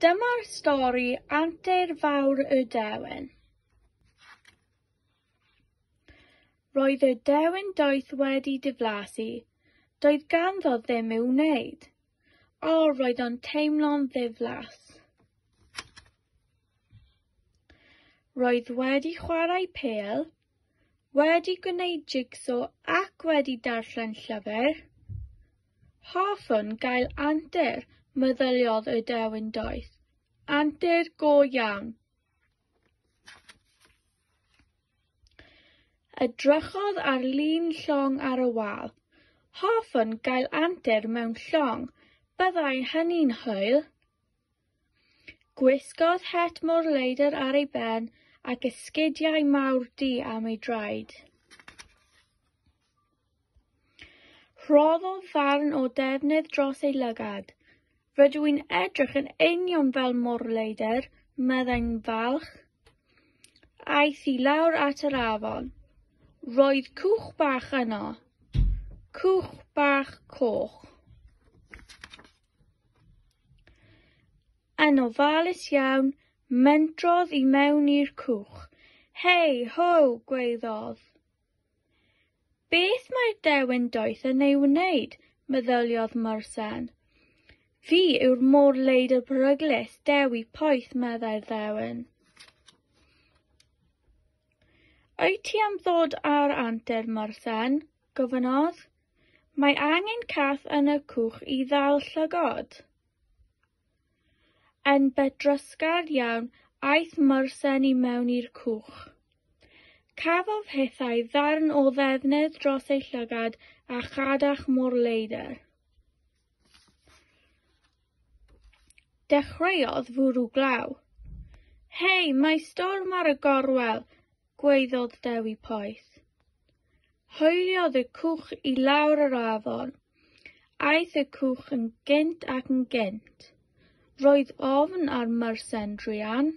Dyma'r stori antur fawr y dewin. Roedd y dewin doeth wedi diflasu. Doedd ganddo ddim i'w wneud. O, roedd o'n teimlo'n ddiflas. Roedd wedi chwarae pel, wedi gwneud jigso ac wedi darllen llyfr. Hoffwn gael antur, meddyliodd y dewin doeth. Antur go iawn. Edrychodd ar lun llong ar y wal. Hoffwn gael antur mewn llong, byddai hynny'n hwyl. Gwisgodd het mor leidr ar ei ben ac esgidiau mawr du am ei draed. Rhoddodd ddarn o ddefnydd dros ei lygad. Rydw i'n edrych yn union fel Morleider, meddai'n falch. Aeth i lawr at yr afon. Roedd cwch bach yno. Cwch bach coch. Yn ofalus iawn, mentrodd i mewn i'r cwch. Hei, ho, gweiddodd. Beth mae'r dewin doeth yn ei wneud, meddyliodd Morsen. Fi yw'r môr-leidr peryglus, dewi poeth, meddai'r ddewin. Wyt ti am ddod ar antur, Morsen? gofynnodd. Mae angen cath yn y cwch i ddal llygod. Yn bedrysgar iawn aeth Mursen i mewn i'r cwch. Cafodd hithau ddarn o ddefnydd dros ei llygad a chadach mor leidr. Dechreuodd fwrw glaw. Hei, mae storm ar y gorwel! gwaeddodd Dewi poeth. Hwyliodd y cwch i lawr yr afon. Aeth y cwch yn gynt ac yn gynt. Roedd ofn ar Myrsen druan.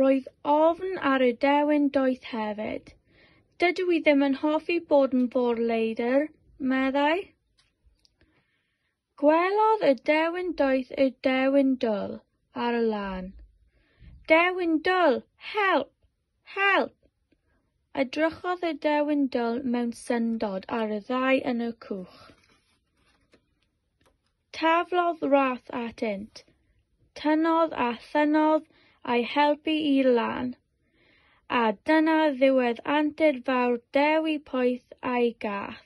Roedd ofn ar y dewin doeth hefyd. Dydw i ddim yn hoffi bod yn fôr leidr, meddai. Gwelodd y dewin doeth y dewin dwl ar y lan. Dewin dwl! Help! Help! Edrychodd y dewin dwl mewn syndod ar y ddau yn y cwch. Taflodd rath atynt, tynodd a thynodd a'i helpu i lan, a dyna ddiwedd antur fawr Dewi Poeth a'i gath.